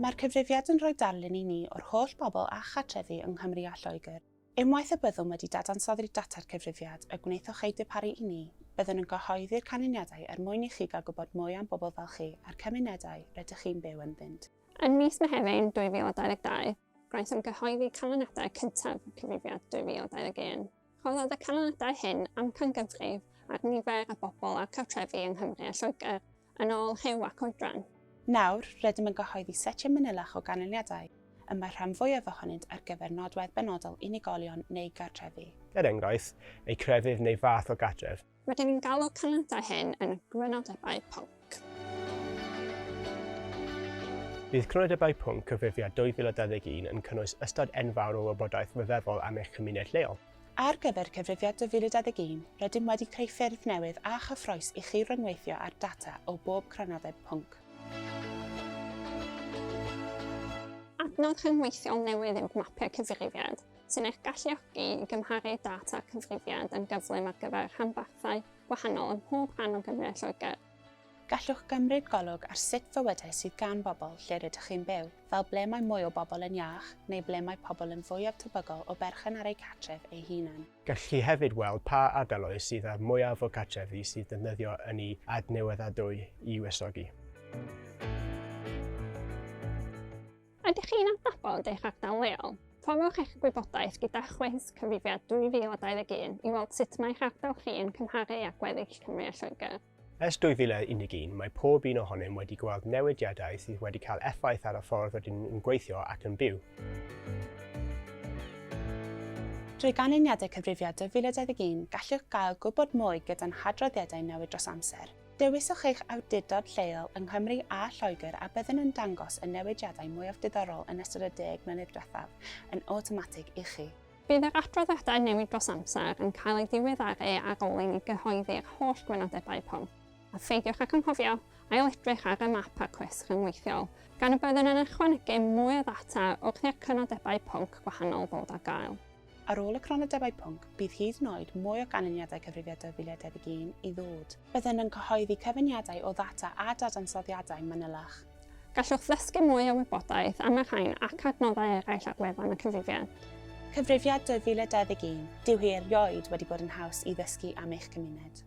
Mae'r cyfrifiad yn rhoi darlun i ni o'r holl bobl â chartrefi yng Nghymru a Lloegr. Unwaith y byddwn wedi dadansoddi'r data'r cyfrifiad y gwnaethoch eu darparu i ni, byddwn yn cyhoeddi'r canlyniadau er mwyn i chi gael gwybod mwy am bobl fel chi a'r cymunedau rydych chi'n byw ynddynt. Ym mis Mehefin 2022, gwnaethom gyhoeddi canlyniadau cyntaf y cyfrifiad 2021. Rhoddodd y canlyniadau hyn amcangyfrif ar nifer y bobl a'r cartrefi yng Nghymru a Lloegr, yn ôl rhyw ac oedran. Nawr, rydym yn gyhoeddi setiau manylach o ganlyniadau, y mae'r rhan fwyaf ohonynt ar gyfer nodwedd benodol unigolion neu gartrefi. Er enghraifft, eu crefydd neu fath o gartref. Rydyn ni'n galw'r canlyniadau hyn yn Crynodebau Pwnc. Bydd Crynodebau Pwnc Cyfrifiad 2021 yn cynnwys ystod enfawr o wybodaeth ryfeddol am eich cymuned lleol. Ar gyfer Cyfrifiad 2021, rydym wedi creu ffyrdd newydd a chyffrous i chi ryngweithio â'r data o bob Crynodeb Pwnc. Adnodd rhyngweithiol newydd yw Mapio Cyfrifiad. sy'n eich galluogi i gymharu data'r cyfrifiad yn gyflym ar gyfer rhanbarthau gwahanol ym mhob rhan o Gymru a Lloegr. Gallwch gymryd golwg ar sut fywydau sydd gan bobl lle rydych chi'n byw, fel ble mae mwy o bobl yn iach neu ble mae pobl yn fwyaf tebygol o berchen ar eu cartref eu hunain. Gallwch chi hefyd weld pa ardaloedd sydd â'r mwyaf o cartrefi sydd defnyddio ynni adnewyddadwy i wresogi. Ydych chi'n adnabod eich ardal leol? Torrwch eich gwybodaeth gyda chwis cyfrifiad 2021 i weld sut mae eich ardal chi yn cymharu â gweddill Cymru a Lloegr. Ers 2011, mae pob un ohonom wedi gweld newidiadau sydd wedi cael effaith ar y ffordd rydyn ni'n gweithio ac yn byw. Drwy ganlyniadau cyfrifiad 2021, gallwch gael gwybod mwy gyda'n hadroddiadau newid dros amser. Dewiswch eich awdurdod lleol yng Nghymru a Lloegr a byddwn yn dangos y newidiadau mwyaf diddorol yn ystod y deg mlynedd diwethaf yn awtomatig i chi. Bydd yr adroddiadau newid dros amser yn cael eu diweddaru ar ôl i ni gyhoeddi'r holl gwynodebau pon. A pheidiwch ag anghofio ail-edrych ar y map a'r cwest rhyngweithiol, gan y byddwn yn ychwanegu mwy o ddata wrth i'r cynodebau pwnc gwahanol ddod ar gael. Ar ôl y cronodebau pwnc, bydd hyd yn oed mwy o ganlyniadau Cyfrifiad 2011 i ddod. Byddwn yn cyhoeddi cyfuniadau o ddata a dadansoddiadau manylach. Gallwch ddysgu mwy o wybodaeth am y rhain ac adnoddau eraill ar wefan y Cyfrifiad. Cyfrifiad 2011, dyw hi erioed wedi bod yn haws i ddysgu am eich cymuned.